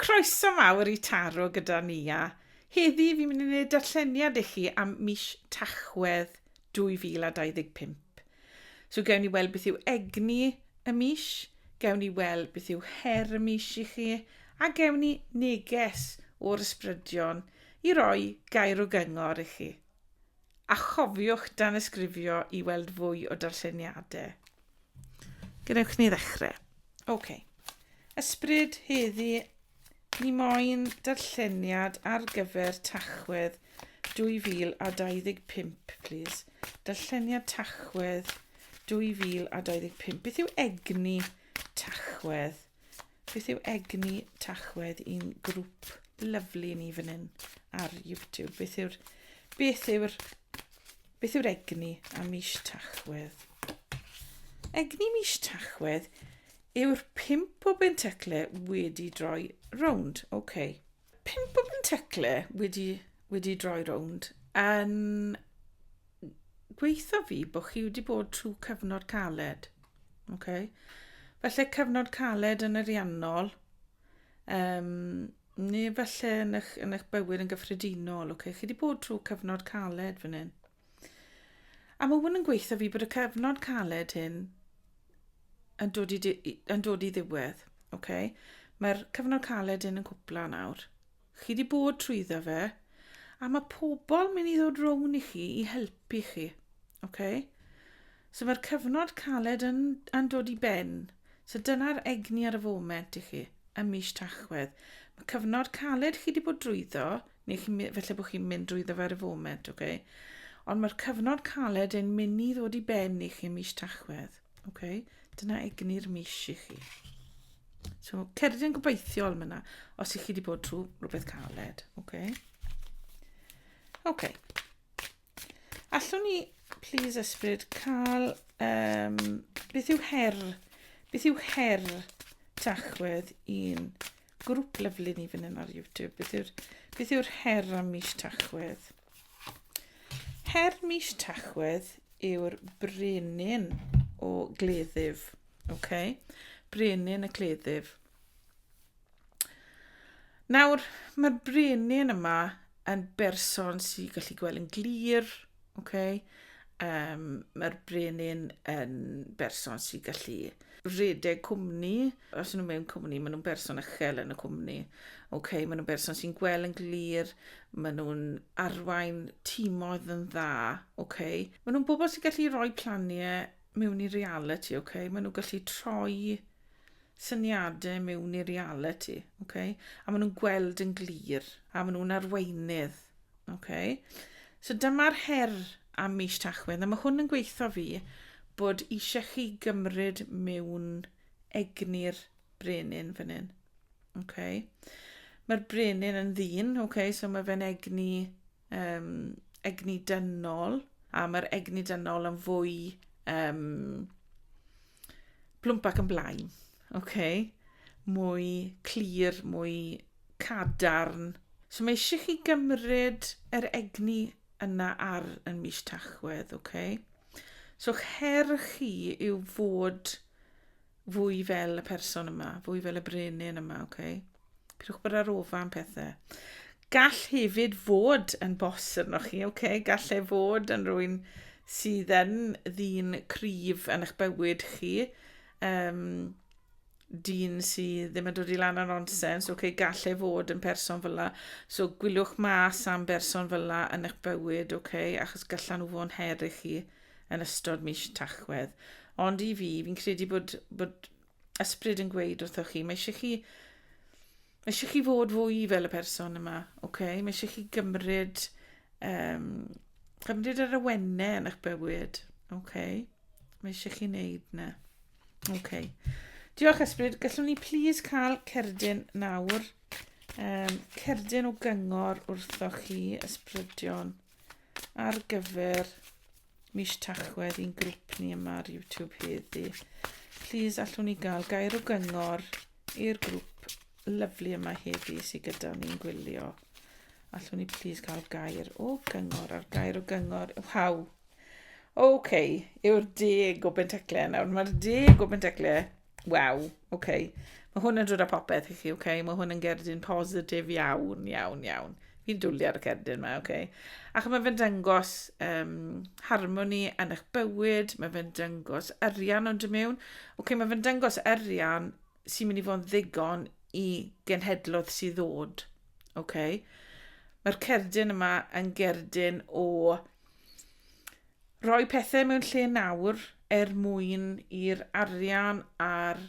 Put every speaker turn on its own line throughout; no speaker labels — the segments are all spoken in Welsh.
Croeso mawr i Taro gyda ni a heddi fi'n mynd i wneud darlleniad i chi am mis Tachwedd 2025. So gewn ni weld beth yw egni y mis, gewn ni weld beth yw her y mis i chi a gewn ni neges o'r ysbrydion i roi gair o gyngor i chi. A chofiwch danysgrifio i weld fwy o darlleniadau. Gwnewch ni ddechrau. OK. Ysbryd heddi, ni moyn darlleniad ar gyfer Tachwedd 2025, please. Darlleniad Tachwedd 2025. Beth yw egni Tachwedd? Beth yw egni tachwedd i'n grŵp lyflu ni fan hyn ar YouTube? Beth yw'r... Beth yw'r... Beth yw'r egni a mis tachwedd? Egni mis tachwedd yw'r pimp o bentacle wedi droi rownd. Oce. Okay. Pimp o bentacle wedi, wedi droi rownd yn gweithio fi bod chi wedi bod trwy cyfnod caled. Okay. Felly cyfnod caled yn ariannol, um, neu felly yn eich, yn eich bywyd yn gyffredinol. Okay. Chi wedi bod trwy cyfnod caled fan hyn. A mae hwn yn gweithio fi bod y cyfnod caled hyn yn dod i, yn dod i ddiwedd. Okay. Mae'r cyfnod caled hyn yn cwpla nawr. Chi di bod trwyddo fe, a mae pobl mynd i ddod rown i chi i helpu chi. Okay? So mae'r cyfnod caled yn, yn dod i ben. So dyna'r egni ar y foment i chi, ym mis Tachwedd. Mae cyfnod caled chi wedi bod drwyddo, neu chi, felly bod chi'n mynd drwyddo fe ar y foment, okay? ond mae'r cyfnod caled yn mynd i ddod i ben i chi mis Tachwedd. Ok, dyna egni'r mis i chi. So, cerdded yn gobeithiol myna, os i chi wedi bod trwy rhywbeth caled. Ok. Ok. Allwn ni, please ysbryd, cael... Um, beth yw her... Beth yw her tachwedd i'n grŵp lyflu ni fan hyn ar YouTube? Beth yw'r beth yw'r her am mis tachwedd? Her mis Tachwedd yw'r brenin o gleddyf. Okay? Brenin y cleddyf. Nawr, mae'r brenin yma yn berson sy'n gallu gweld yn glir, okay? Um, mae'r brenin yn berson sy'n gallu rhedeg cwmni, Os nhw mewn cwmni, maen nhw'n berson uchel yn y cwmni. Okay, maen nhw'n berson sy'n gweld yn glir, maen nhw'n arwain tîmoedd yn dda. Okay. Maen nhw'n bobl sy'n gallu rhoi planiau mewn i reality. Okay. Maen nhw'n gallu troi syniadau mewn i reality. Okay. A maen nhw'n gweld yn glir. A maen nhw'n arweinydd. Okay. So dyma'r her am mis tachwedd. A mae hwn yn gweithio fi bod eisiau chi gymryd mewn reality egni'r brenin fan hyn. Okay. Mae'r brenin yn ddyn, okay, so mae fe'n egni, um, egni dynol, a mae'r egni dynol yn fwy um, plwmp ac yn blaen. Okay. Mwy clir, mwy cadarn. So mae eisiau chi gymryd yr egni yna ar yn mis Tachwedd, okay? So her chi yw fod Fwy fel y person yma, fwy fel y brenin yma, ok? Pidwch bod ar ofa am pethau. Gall hefyd fod yn bos arnoch chi, ok? Gall e fod yn rwy'n sydd yn ddyn cryf yn eich bywyd chi. Um, dyn sydd ddim yn dod i lan ar nonsens, oce, okay, gall e fod yn person fyla. So gwyliwch mas am berson fyla yn eich bywyd, oce, okay, achos gallan nhw fod yn her i chi. yn ystod mis Tachwedd. Ond i fi, fi'n credu bod, bod ysbryd yn gweud wrthoch chi, mae eisiau chi, mae eisiau chi fod fwy fel y person yma, okay? mae eisiau chi gymryd, um, gymryd yr awennau yn eich bywyd. Okay? Mae eisiau chi wneud na. Okay. Diolch ysbryd, gallwn ni please cael cerdyn nawr, um, cerdyn o gyngor wrthoch chi ysbrydion. ar gyfer mis Tachwedd i'n grŵp ni yma ar YouTube heddi. Please allwn ni gael gair o gyngor i'r grŵp lyflu yma heddi sydd gyda ni'n gwylio. Allwn ni please gael gair o gyngor ar gair o gyngor. Waw! OK, yw'r deg o Bentecleu nawr. Mae'r deg o Bentecleu Waw, oce. Okay. Mae hwn yn dod â popeth i chi, oce. Okay? Mae hwn yn gerdyn positif iawn, iawn, iawn. Fi'n dwlu ar y cerdyn yma, oce. Okay? Ac mae fe'n dangos um, harmoni yn eich bywyd, mae fe'n dangos arian ond y mewn. Oce, okay, mae fe'n dangos arian sy'n mynd i fod yn ddigon i genhedlodd sydd ddod. Oce. Okay? Mae'r cerdyn yma yn gerdyn o rhoi pethau mewn lle nawr er mwyn i'r arian a'r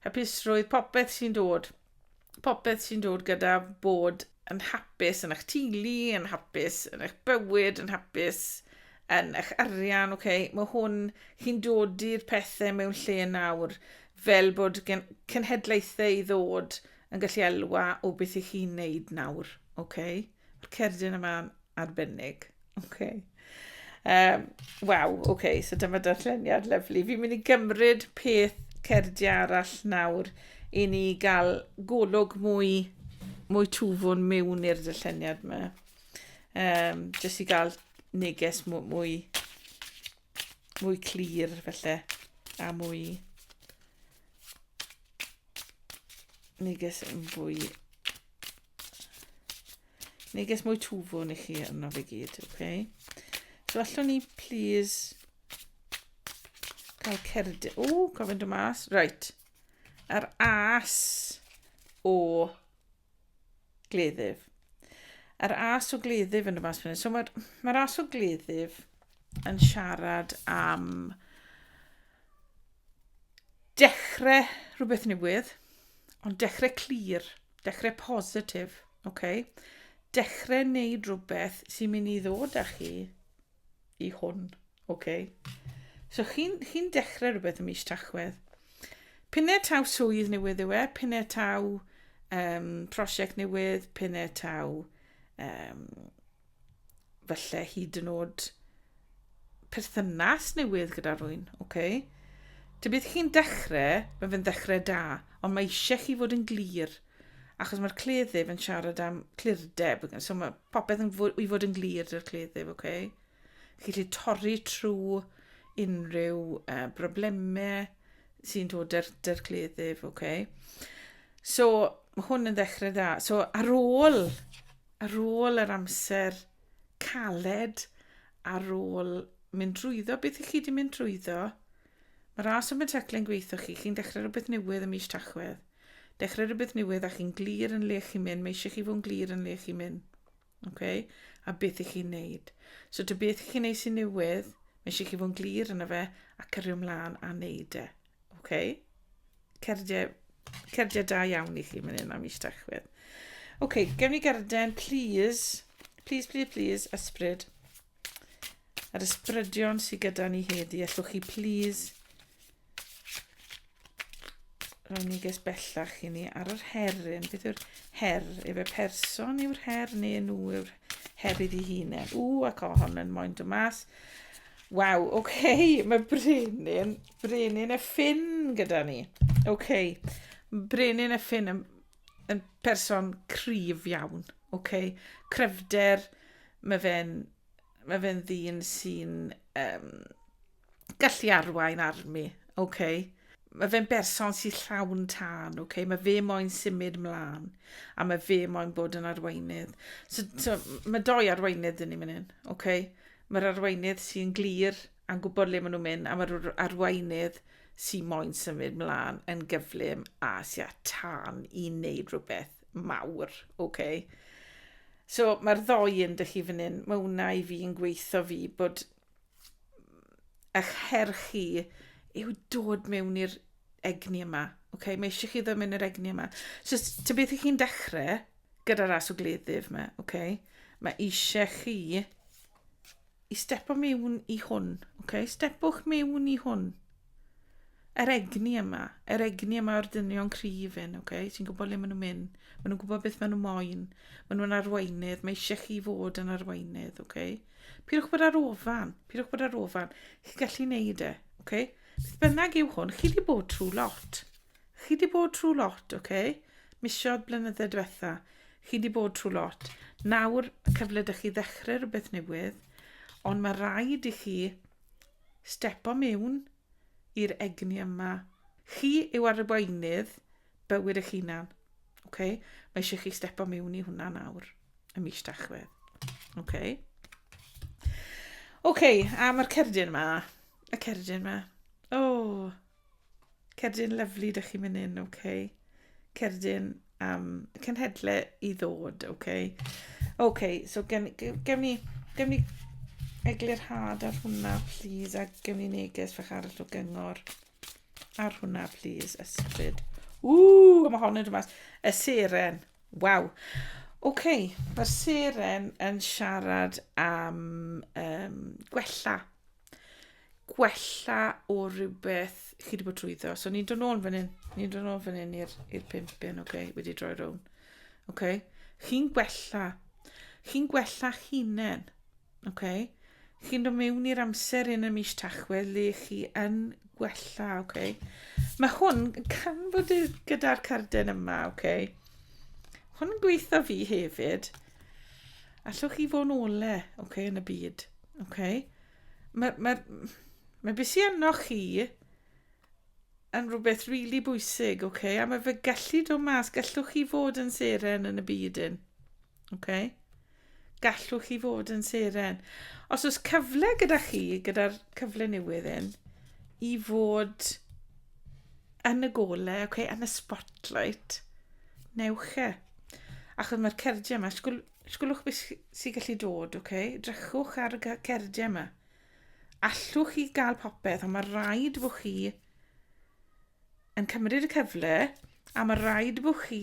hapusrwydd, popeth sy'n dod, popeth sy'n dod gyda bod yn hapus yn eich teulu, yn hapus yn eich bywyd, yn hapus yn eich arian, oce, okay? mae hwn, chi'n dod i'r pethau mewn lle nawr, fel bod gen cenhedlaethau i ddod yn gallu elwa o beth i chi'n neud nawr, oce? Okay? Mae'r cerdyn yma'n arbennig. OK. Um, Waw, oce, okay, so dyma darlleniad lyflu. Fi'n mynd i gymryd peth cerdi arall nawr i ni gael golwg mwy, mwy twfwn mewn i'r darlleniad yma. Um, jyst i gael neges mwy, mwy, mwy clir felly, a mwy neges yn fwy Neges mwy twfwn i chi arno fe gyd, oce? Okay? So allwn ni, please, cael cerdyn... O, cofyn dy mas. Right. Yr as o gleddyf. Yr as o gleddyf yn y mas fyny. So mae'r mae as o gleddyf yn siarad am dechrau rhywbeth newydd, ond dechrau clir. Clir Dechrau positif, ok. Dechrau wneud rhywbeth sy'n mynd i ddod â chi i hwn, ok. So chi'n chi dechrau rhywbeth ym mis Tachwedd. Pinnau taw swydd newydd yw e, pinnau taw um, prosiect newydd, pinnau taw um, falle hyd yn oed perthynas newydd gyda rwy'n, oce? Okay? Tybed chi'n dechrau, mae fe'n dechrau da, ond mae eisiau chi fod yn glir, achos mae'r cleddyf yn siarad am clirdeb, so mae popeth yn fod, i fod yn glir dy'r cleddyf, oce? Okay? Chi lle torri trwy unrhyw uh, broblemau sy'n dod dy'r, dy'r cleddyf, oce? Okay? So, mae hwn yn ddechrau dda. So, ar ôl ar ôl yr amser caled, ar ôl mynd drwyddo beth i chi wedi mynd drwyddo, mae ras open tackling gweithio chi, chi'n dechrau rhywbeth newydd ym mis Tachwedd. Dechrau rhywbeth newydd a chi'n glir yn le chi'n mynd, mae eisiau chi fod yn glir yn le chi'n mynd. Okay? A beth i chi'n neud. So dy beth i chi'n neud sy'n newydd, mae eisiau chi fod yn glir yna fe a cyrru ymlaen a neud e. Ok. Cerdiau, cerdiau da iawn i chi mynd hyn am mis Tachwedd. Ok, gewn ni garden, please. Please, please, please, ysbryd. Yr ysbrydion sydd gyda ni heddi, allwch chi please roi ni ges bellach i ni ar yr heryn. Beth yw'r her? Efe person yw'r her neu nhw yw'r her iddi hunain? Ww, ac o hon yn moyn dod mas. Waw, oce, okay, mae Brenin Brenin y ffin gyda ni. OK. Brenin y ffin yn, yn person cryf iawn. OK. Cryfder, mae fe'n mae fe'n ddyn sy'n um, gallu arwain armi. OK. Mae fe'n berson sy'n llawn tân, OK. Mae fe moyn symud mlaen a mae fe moyn bod yn arweinydd. So, so mae doi arweinydd dyn ni mynd hyn, OK. Mae'r arweinydd sy'n glir, a'n gwybod le maen nhw'n mynd, a mae'r arweinydd sy'n moyn symud mlaen yn gyflym a sy'n a tan i wneud rhywbeth mawr, oce? Okay? So mae'r ddoi yn dych chi fan hyn, mae hwnna i fi yn gweithio fi bod eich her chi yw dod mewn i'r egni yma, oce? Okay? Mae eisiau chi ddod mewn i'r egni yma. So ty beth ych chi'n dechrau gyda'r ras o gleddyf yma, oce? Okay? Mae eisiau chi I stepo mewn i hwn, okay? Stepwch mewn i hwn. Yr egni yma, yr egni yma o'r dynion cryf hyn, okay? Ti'n gwybod le maen nhw'n mynd. Maen nhw'n gwybod beth maen nhw moyn. Maen nhw'n arweinydd. Mae eisiau chi fod yn arweinydd, okay? Pidwch bod ar ofan. Pidwch bod ar ofan. Chi'n gallu neud e, okay? Beth bynnag yw hwn, chi wedi bod trwy lot. Chi di bod trwy lot, ok? Misiodd blynydde diwetha. Chi di bod trwy lot. Nawr y cyfle dych chi ddechrau rhywbeth newydd, ond mae rhaid i chi stepo mewn i'r egni yma. Chi yw arweinydd bywyd eich hunan. Okay? Mae eisiau chi stepo mewn i hwnna nawr, y mis dachwedd. Okay? OK, a mae'r cerdyn yma. Y cerdyn yma. O, oh, Cerdyn lyflu, dych chi'n mynd in, oce. Okay. Cerdyn am um, cenhedle i ddod, oce. Okay. Oce, okay, so gen, gen ni, gen ni eglurhad ar hwnna, please, a gen ni neges fach arall o gyngor ar hwnna, please, ysbryd. Ww, mae hon yn dymas. Y seren, waw. Oce, okay, mae'r seren yn siarad am um, gwella gwella o rhywbeth chi wedi bod trwyddo. So ni'n dod nôl yn fan hyn. Ni'n dod nôl yn fan hyn i'r pimp yn, oce, okay, wedi droi rown. Oce, okay. chi'n gwella. Chi'n gwella hunain. Oce, okay. chi'n dod mewn i'r amser yn y mis tachwedd le chi yn gwella, oce. Okay. Mae hwn can bod gyda'r carden yma, oce. Okay. Hwn yn gweithio fi hefyd. Allwch chi fod yn ole, oce, okay, yn y byd, oce. Okay. Mae, mae, mae beth sy'n enno chi yn rhywbeth rili really bwysig, oce? Okay? A mae fe gallu dod mas, gallwch chi fod yn seren yn y byd un. Oce? Okay? Gallwch chi fod yn seren. Os oes cyfle gyda chi, gyda'r cyfle newydd un, i fod yn y gole, okay, yn y spotlight, newch e. Achos mae'r cerdiau yma, Sgwlwch beth sy'n gallu dod, oce? Okay? Drychwch ar y cerdiau yma. Allwch chi gael popeth, ond mae rhaid bod chi yn cymryd y cyfle, a mae rhaid bod chi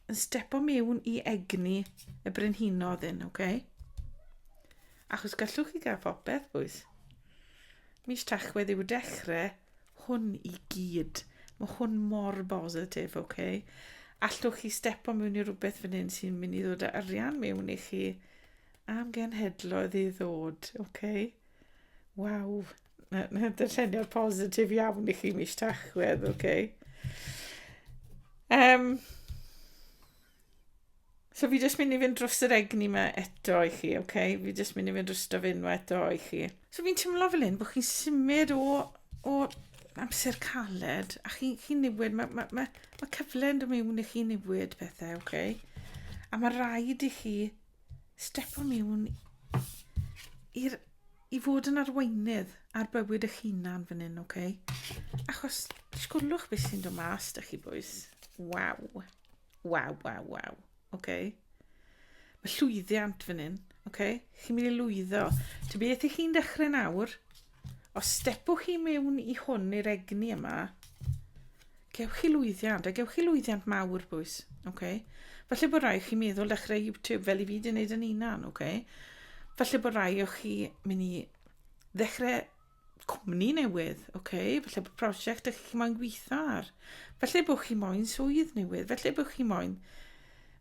yn stepo mewn i egni y brenhinodd hyn, oce? Okay? Achos gallwch chi gael popeth, bwys. Mis Tachwedd yw dechrau hwn i gyd. Mae hwn mor bositif, oce? Okay? Allwch chi stepo mewn i rhywbeth fan hyn sy'n mynd i ddod â arian mewn i chi am genhedloedd i ddod, oce? Okay? Waw, dylleniad positif iawn i chi mis tachwedd, oce? Okay? Um, So fi jyst mynd i fynd dros yr egni yma eto i chi, oce? Okay? Fi jyst mynd i fynd dros yr enw eto i chi. So fi'n teimlo fel hyn bod chi'n symud o, o amser caled a chi'n chi newid, mae ma, ma, ma cyfle yn dod mewn i chi newid pethau, oce? Okay? A mae rhaid i chi step o mewn i'r i fod yn arweinydd ar bywyd eich hunan fan hyn, oce? Okay? Achos, disgwlwch beth sy'n dod mas, da chi bwys. Waw. Waw, waw, waw. Oce. Mae llwyddiant fan hyn. Oce. Chi'n mynd i lwyddo. Ti beth i chi'n dechrau nawr? Os stepwch chi mewn i hwn i'r egni yma, gewch chi lwyddiant, a gewch chi lwyddiant mawr, bwys. Oce. Falle bod rai chi meddwl dechrau YouTube fel i fi di wneud yn unan, oce. Falle bod rai o chi mynd i ddechrau cwmni newydd, oce, okay? felly bod prosiect ydych chi moyn gweithio ar, felly bod chi moyn swydd newydd, felly bod chi moyn,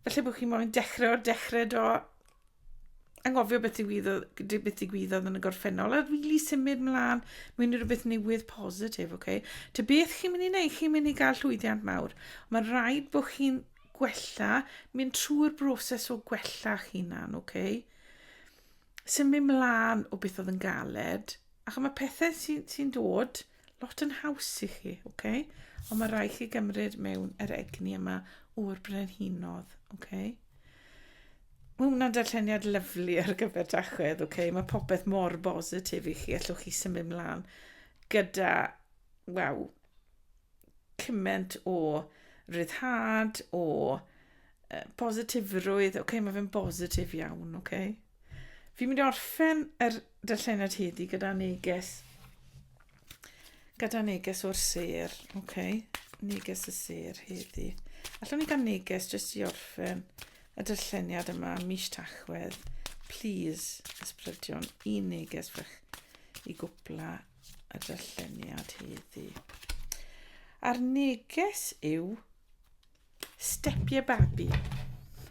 felly bod chi moyn dechrau o'r dechrau do, angofio beth digwyddodd, beth digwyddodd yn y gorffennol, a rili really symud mlaen mewn i rhywbeth newydd positif, oce? Okay? Te beth chi'n mynd i wneud, chi'n mynd i gael llwyddiant mawr. Mae'n rhaid bod chi'n gwella, mynd trwy'r broses o gwella chi'n hunan, oce? Okay? symud mlaen o beth oedd yn galed, ac mae pethau sy'n sy dod lot yn haws i chi, oce? Okay? Ond mae rhaid chi gymryd mewn yr egni yma o'r brenhinodd, oce? Okay? Mae hwnna'n darlleniad lyflu ar gyfer dachwedd, oce? Okay? Mae popeth mor bositif i chi, allwch chi symud mlaen gyda, waw, cymaint o ryddhad, o uh, positifrwydd. Oce, okay, mae fe'n bositif iawn, oce. Okay. Fi'n mynd i orffen yr darllenad heddi gyda neges. Gyda neges o'r ser, oce. Okay. Neges y ser heddi. Allwn ni gael neges jyst i orffen y darlleniad yma mis tachwedd. Please, ysbrydion, un neges fach i gwpla y darlleniad heddi. A'r neges yw Step your babi.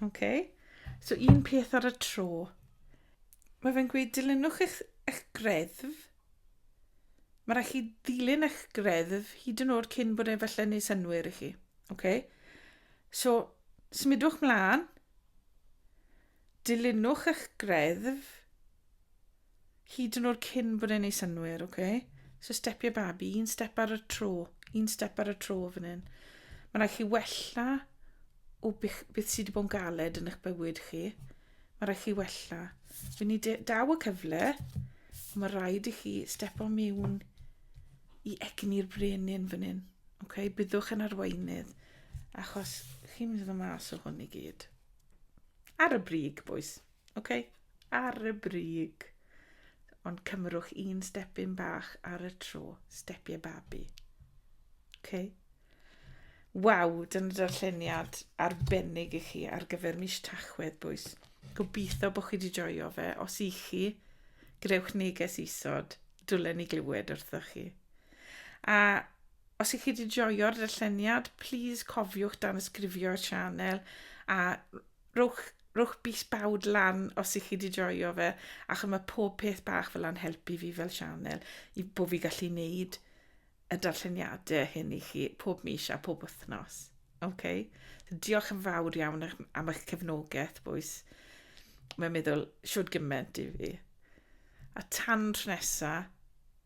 Okay. So un peth ar y tro. Mae fe'n gweud dilynwch eich, eich greddf. Mae rhaid chi ddilyn eich greddf hyd yn oed cyn bod e'n felly neud synwyr i chi. Okay. So, smidwch mlaen. Dilynwch eich greddf hyd yn oed cyn bod e'n ei synwyr, oce? Okay? So stepiau babi, un step ar y tro, un step ar y tro fan hyn. Mae'n rhaid chi wella o bych, beth sydd wedi bod yn galed yn eich bywyd chi. Mae'n rhaid chi wella. Fy ni daw y cyfle, mae rhaid i chi step o mewn i egni'r brenin fan hyn. Okay? Byddwch yn arweinydd, achos chi'n mynd i ddod mas o hwn i gyd. Ar y brig, boys. OK? Ar y brig. Ond cymrwch un stepyn bach ar y tro. Stepiau babi. OK? Waw, dyna darlleniad arbennig i chi ar gyfer mis Tachwedd, boys. Gobeithio bod chi wedi joio fe. Os i chi, grewch neges isod. Dwlen ni glywed wrthoch chi. A Os ych chi wedi joio'r darlleniad, plis cofiwch danysgrifio i'r sianel a rhowch, rhowch bys bawd lan os ych chi wedi joio fe, achos mae pob peth bach fel yna'n helpu fi fel sianel i bod fi gallu wneud y darlleniadau hyn i chi pob mis a pob wythnos. Okay. So, diolch yn fawr iawn am eich cefnogaeth, bwys. Mae'n meddwl siwr gymaint i fi. A tan tro nesaf,